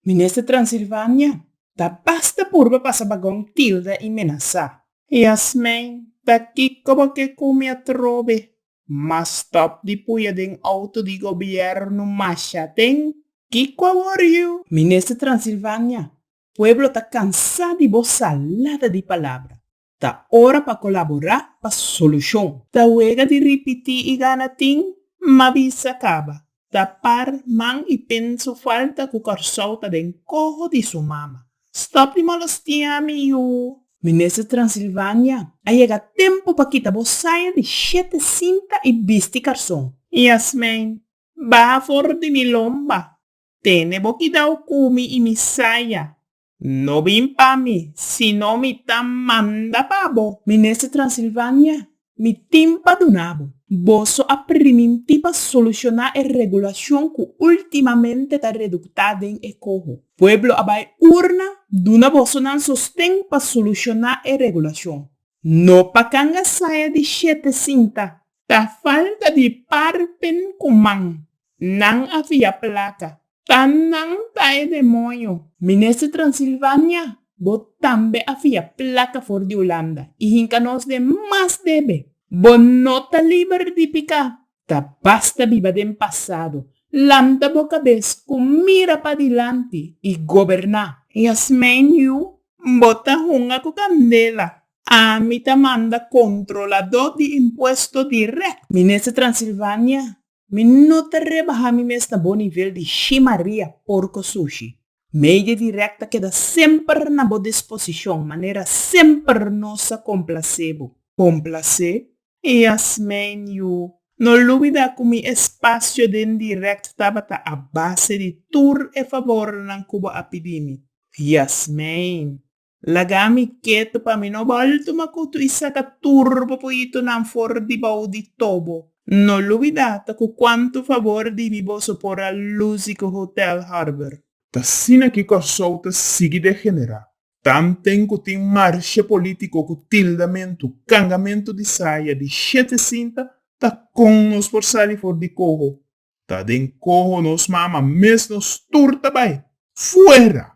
Minister Transilvania ta basta purba pa sa bagon tilda y menasa. Yasmijn, Ta kico bo ke cu mi a trobe? Ma stop di puya den auto di gobierno masha den. Kico a wor yu? Minister Transilvania, Pueblo ta cansa di bo salada di palabra. Ta ora pa colaborá pa solucion. Ta wega di ripití i gana tin, ma bisa caba. Ta par man i pen su falta cu Corsou ta den coho di su mama. Stop di molostiá mi yu! Minister Transilvania, a yega tempo pa kita bo saya di shete sinta i bisti carson. Yasmijn, baha for di mi lomba. Tene bo kidao cu mi i mi saya. No bin pa mi, sino mi ta manda pa bo, Minister Transilvania, mi tin pa duna bo. Boso a primintí pa solucioná e regulacion cu ultimamente ta reductá den e coho. Pueblo a bai urna duna boso nan sosten pa solucioná e regulacion, no pa canga saya di shete sinta Ta falta di parpen ku man. Nan a fia plaka. Ta nan ta e demonio. Minister Transilvania, bo tambe a fia plaka for di Ulanda i hinka nos den mas debe. Bo no ta liber di piká. Ta basta biba den pasado. Lanta bo kabes ku mira padilanti i goberná. Yasmijn Yu, bo ta hunga ku kandela. A Mi ta manda controladó di impuesto direct. Minister Transilvania, Mi no ta rebaha mi mes na bo nivel di Xi Maria porco sushi. Media direct ta keda semper na bo disposicion, manera semper nos a complacé bo. Complacé? Yasmijn Yu, No lubida cu mi espacio den direct tabata a base di tur e favornan cu bo a pidi mi. Yasmijn. Laga mi ketu pa mi no bolto makutu i saka tur bo poyitonan for di bou di tobo. No lubida ta ku kuantu fabor di mi boso por a lusi ku Hotel Harbor. Ta asina ki Kòrsou ta sigui degenerá. Tanten ku tin marsha polítiko ku tildamentu, kangamentu di saya, di shete sinta, ta kon nos por sali for di koho. Ta den koho nos mama mes nos tur ta bai. Fuera!